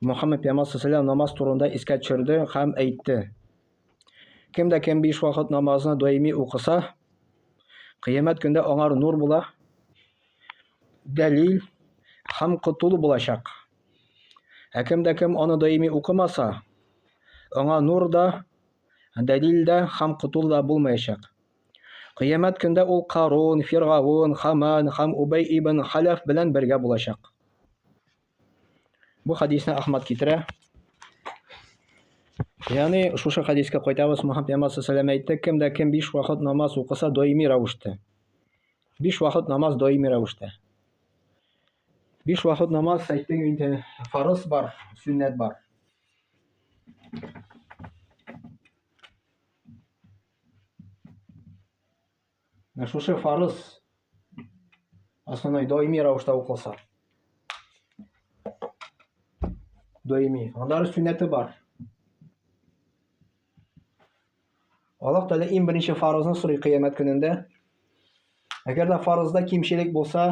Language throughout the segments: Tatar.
Мөхәммәд пәйгамбәр саллаллаху намаз турында искә төшерде һәм әйтте. Кем дә кем биш вакыт намазны даими укыса, кыямәт көндә аңар нур була, дәлил һәм котылу булачак. Ә кем дә кем аны даими укымаса, аңа нур да, дәлил дә һәм котылу да булмаячак. Кыямәт көндә ул Карун, Фиргавун, Хаман һәм Убай ибн Халәф белән бергә булачак. Бу хадисне Ахмад китерә. Ягъни шушы хадискә кайтабыз, Мухаммад пәйгамбәр саллаллаху әйтте, кем дә кем биш вакыт намаз укыса даими рәвештә. Биш вакыт намаз даими рәвештә. Биш вакыт намаз әйттең инде, фарыз бар, сүннәт бар. Менә шушы фарыз основной даими рәвештә укылса. Даими. Аннары сүнәте бар. Аллаһ Тәгалә иң беренче фарызны сорый кыямәт көнендә. Әгәр дә фарызда кимчелек булса,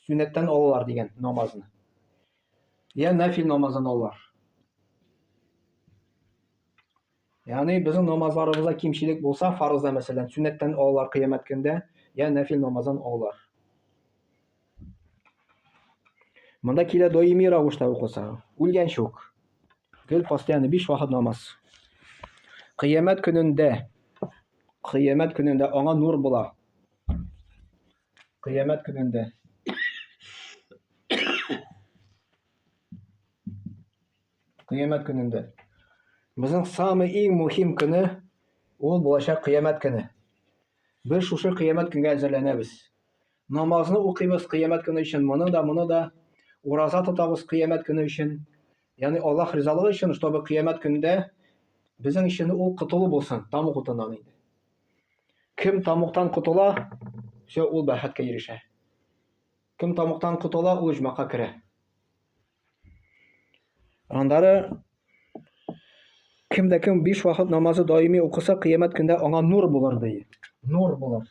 сүнәттән алалар дигән намазны. Я нафил намазын алалар. Ягъни безнең намазларыбызда кимчелек булса, фарызда мәсәлән, сөннәттән алалар кыямәт көндә, я нәфил намаздан алалар. Монда килә даими рәвештә укыса, үлгәнче үк. Гел постоянно 5 вакыт намаз. Кыямәт көнендә кыямәт көнендә аңа нур була. Кыямәт көнендә Кыямәт көнендә. Безнең самый иң мөһим көне ул булачак кыямәт көне. Без шушы кыямәт көнгә әзерләнәбез. Намазны укыйбыз кыямәт көне өчен, моны да, моны да. Ураза тотабыз кыямәт көне өчен. Ягъни Аллаһ ризалыгы өчен, чтобы кыямәт көндә безнең өчен ул котылу булсын, тамук утыннан инде. Кем тамуктан котыла, все, ул бәхеткә ирешә. Кем тамуктан котыла, ул җмакка керә. Аннары кем дә кем биш вакыт намазы даими укыса, кыямәт көндә аңа нур булыр ди. Нур булыр.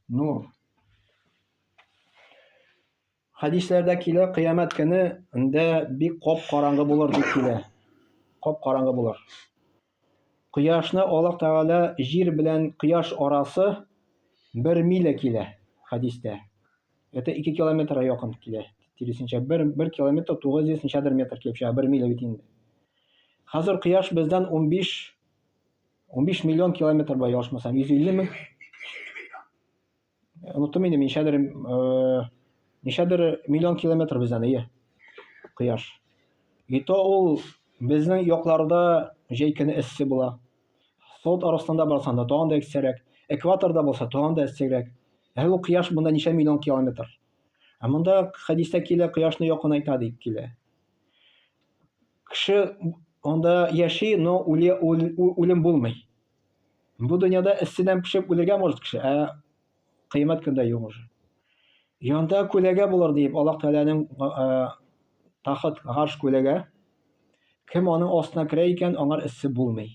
Нур. Хәдисләрдә килә, кыямәт көне инде бик коп караңгы булыр дип килә. Коп караңгы булыр. Кояшны Аллаһ Тәгалә җир белән кояш арасы бер миля килә, хәдистә. Это ике километра якын килә, тиресенчә. Бер, бер километр, тугыз йөз ничәдер метр килеп чыга, бер миля бит инде. Хәзер кояш бездән унбиш, унбиш миллион километр бар, ялгышмасам, йөз илле мең? Оныттым инде, ничәдер, э, ничәдер миллион километр бездән, ие. Кояш. И то ул безнең якларда җәй көне эссе була. Сот арасында барсаң да тагын да эссерәк. Экваторда булса тагын да эссерәк. Ә ул кояш монда ничә миллион километр. Ә монда хәдистә килә, кояшны якынайта дип килә. Кеше анда яши, но үлем булмый. Бу дөньяда эсседән пешеп үлергә может кеше, ә кыямәт көндә юк уже. Янда күләгә булыр дип, Аллаһ Тәгаләнең тахт, гарш күләгә. Кем аның астына керә икән, аңар эссе булмый.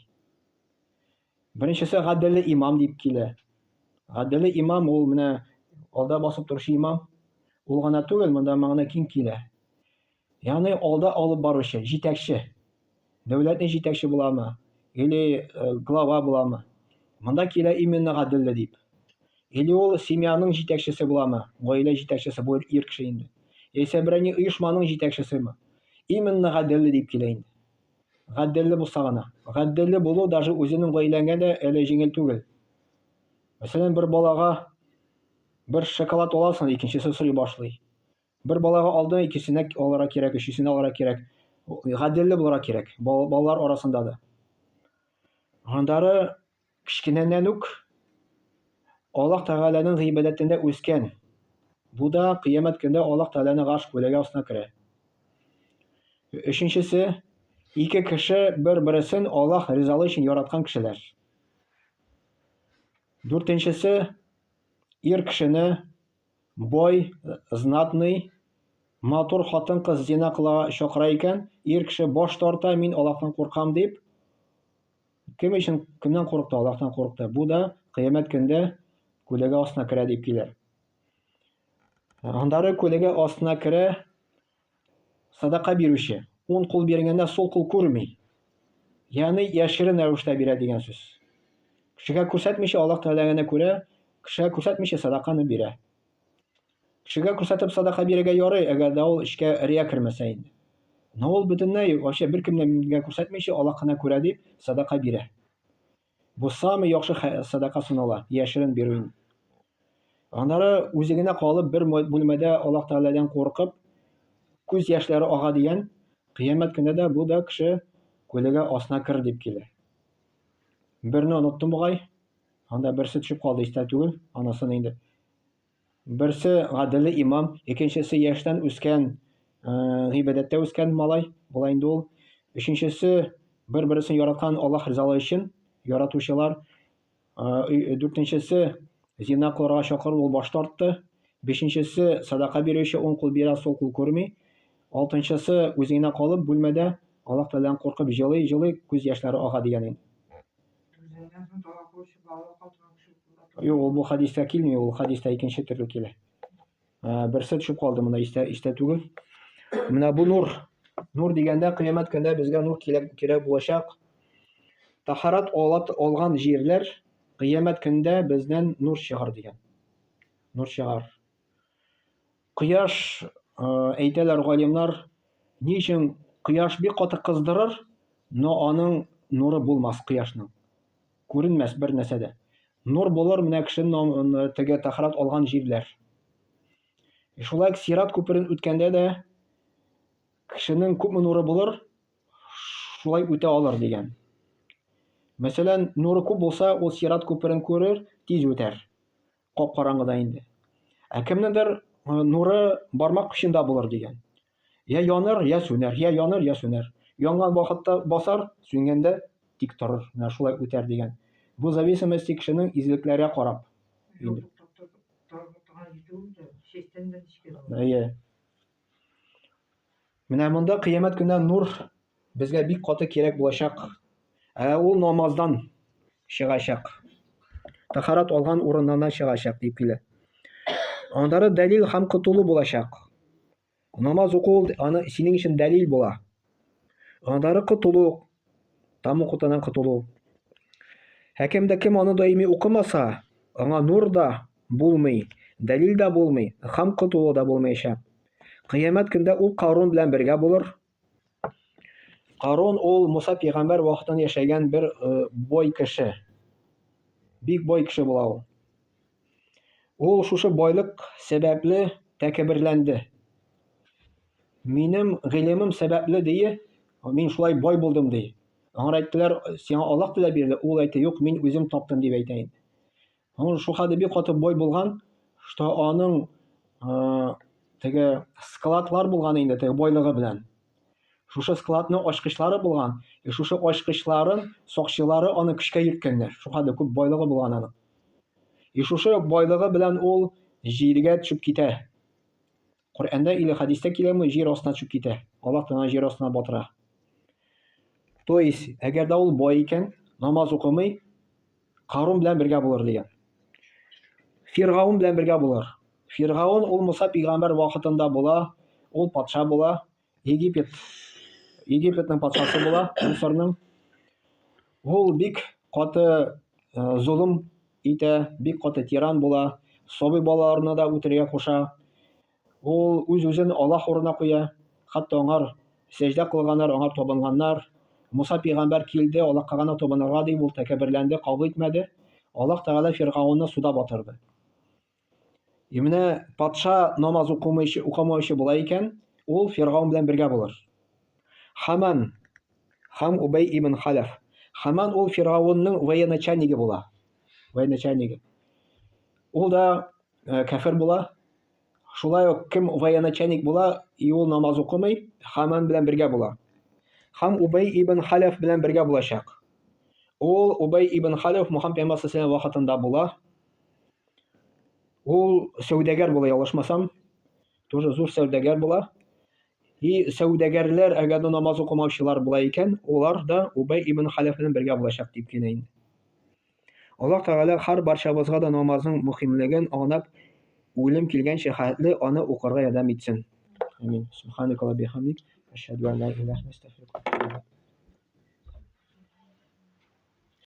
Беренчесе гаделле имам дип килә. Гаделле имам ул менә алда басып торучы имам. Ул гына түгел, монда мәгънә киң килә. Яны алда алып баручы, җитәкче. Дәүләтне җитәкче буламы? Или э, глава буламы? Монда килә именно гаделле дип. Или ул семьяның җитәкчесе буламы? Гаилә җитәкчесе бу ир кеше инде. Яисә берәни оешманың җитәкчесеме? Именно гаделле дип килә инде. Гаделле булса гына. Гаделле булу даже үзенең гаиләңә дә әле җиңел түгел. Мәсәлән, бер балага бер шоколад аласың, икенчесе сорый башлый. Бер балага алдына икесенә алара кирәк, өчесенә алара кирәк. Гаделле булара кирәк балалар арасында да. Гандары кечкенәннән үк Аллаһ Тәгаләнең гыйбадәтендә үскән. Бу да кыямәт көндә Аллаһ Тәгаләне гаш күләгә астына керә. Өченчесе, ике кеше бер-берсен Аллаһ ризалы өчен яраткан кешеләр. Дүртенчесе, ир кешене Бай, знатный, матур хатын-кыз зина кылага чакыра икән, ир кеше баш тарта, мин Аллаһтан куркам дип. Кем өчен кемнән курыкты? Аллаһтан курыкты. Бу да кыямәт көндә күләгә астына керә дип килә. Аннары күләгә астына керә Садака бирүче, уң кул биргәндә сул кул күрми. Ягъни яшерен рәвештә бирә дигән сүз. Кешегә күрсәтмичә Аллаһ теләгәнә күрә, кешегә күрсәтмичә садаканы бирә. Кешегә күрсәтеп садака бирергә ярый, әгәр дә ул эшкә рия кермәсә инде. Но ул бөтенләй вообще беркемгә күрсәтмичә Аллаһ кына күрә дип садака бирә. Бу самый яхшы садака санала, яшерен бирү. Аннары үзе генә калып бер бүлмәдә Аллаһ Тәгаләдән куркып, күз яшьләре ага дигән, кыямәт көне дә бу да кеше күлегә асына кер дип килә. Берне оныттым бугай, анда берсе төшеп калды, истә түгел, анысын инде Берсе гаделе имам, икенчесе яшьтән үскән, э, гыйбадәттә үскән малай, була инде ул. Өченчесе бер-бересен яраткан Аллаһ ризалы өчен яратучылар. Э, дүртенчесе зина кылырга чакыру ул баш тартты. Бишенчесе садака бирүче уң кул бирә, сул кул күрми. Алтынчысы үзенә калып бүлмәдә Аллаһ Тәгаләдән куркып җылый, җылый, күз яшьләре ага дигән инде. Үзеннән соң тала кылучы балалар катына төшеп кулда тора. Юк, ул бу хәдистә килми, ул хәдистә икенче төрле килә. Ә, Берсе төшеп калды монда истә, истә түгел. Менә бу нур. Нур дигәндә кыямәт көндә безгә нур кирәк, кирәк булачак. Тахарат алат, алган җирләр кыямәт көндә бездән нур чыгар дигән. Нур чыгар. Кояш, әйтәләр галимнар, ни өчен кояш бик каты кыздырыр, но аның нуры булмас кояшның. Күренмәс бер нәрсә дә. Нур булыр менә кеше теге тәхарәт алган җирләр. Шулай ук сират күперен үткәндә дә кешенең күпме нуры булыр, шулай үтә алыр дигән. Мәсәлән, нуры күп булса, ул сират күперен күрер, тиз үтәр. кап-караңгыда инде. Ә кемнедер нуры бармак очында булыр дигән. Я яныр, я сүнәр, я яныр, я сүнәр. Янган вакытта басар, сүнгәндә тик торыр. Менә шулай үтәр дигән. Бу зависимость кешенең излекләргә карап. Әйе. Менә монда кыямәт көнә нур безгә бик каты кирәк булачак. Ә ул намаздан чыгачак. Тахарат алган урыннан чыгачак дип килә. Андары дәлил һәм котылу булачак. Намаз уку аны синең өчен дәлил була. Анадары котылу, там укытадан котылу. Хәкем дә кем аны даими укымаса, аңа нур да булмый, дәлил дә булмый, хам котылу да булмыйча. Кыямәт көндә ул Карун белән бергә булыр. Карун ул Муса пигамбәр вакытын яшәгән бер э, бой кеше. Бик бой кеше була ул. Ул шушы байлык сәбәпле тәкәбберләнде. Минем гыйлемем сәбәпле дие, мин шулай бай булдым ди. Аңар әйттеләр, сиңа Аллаһ теләп бирде. Ул әйтте, юк, мин үзем таптым дип әйтә инде. Ул шул хәлдә бик каты бай булган, что аның теге складлар булган инде, теге байлыгы белән. Шушы складның ачкычлары булган. Э, шушы ачкычларын сакчылары аны көчкә йөрткәннәр. Шуңа кадәр күп байлыгы булган аның. И э, шушы байлыгы белән ул җиргә төшеп китә. Коръәндә или хадистә киләме, җир астына төшеп китә. Аллаһ Тәгалә җир астына батыра. То есть, әгәр дә ул бай икән, намаз укымый, Карун белән бергә булыр дигән. Фиргаун белән бергә булыр. Фиргаун ул Муса пигамбер вакытында була, ул патша була, Египет Египетның патшасы була, Мисырның. Ул бик каты э, золым итә, бик каты тиран була, сабый балаларны да үтерергә куша. Ул үз-үзен Аллаһ урынына куя, хәтта аңар сәҗдә кылганнар, аңа табынганнар. Муса пәйгамбәр килде, Аллаһка гына табынырга дип, ул тәкәбберләнде, кабул итмәде. Аллаһ Тәгалә Фиргаунны суда батырды. И менә патша намаз укымыйчы, укымаучы була икән, ул Фиргаун белән бергә булыр. Хаман Хам Убей ибн Халаф. Хаман ул Фиргаунның военачальнигы була. Военачальнигы. Ул да Э, кәфер була. Шулай ук кем военачальник була, и ул намаз укымый, Хаман белән бергә була. Хам Убей ибн Халәф белән бергә булачак. Ул Убей ибн Халәф Мухаммад пәйгамбәр сәлләм вакытында була. Ул сәүдәгәр була, ялгышмасам. Тоже зур сәүдәгәр була. И сәүдәгәрләр, әгәр дә намаз укымаучылар була икән, олар да Убей ибн Халәф белән бергә булачак дип кенә инде. Аллаһ Тәгалә һәр барчабызга да намазның мөхимлеген анлап, үлем килгәнчә хәтле аны укырга ярдәм итсен. Амин. Субханак ва бихамдик, ашһаду ан ла илаһ ва астагфирука.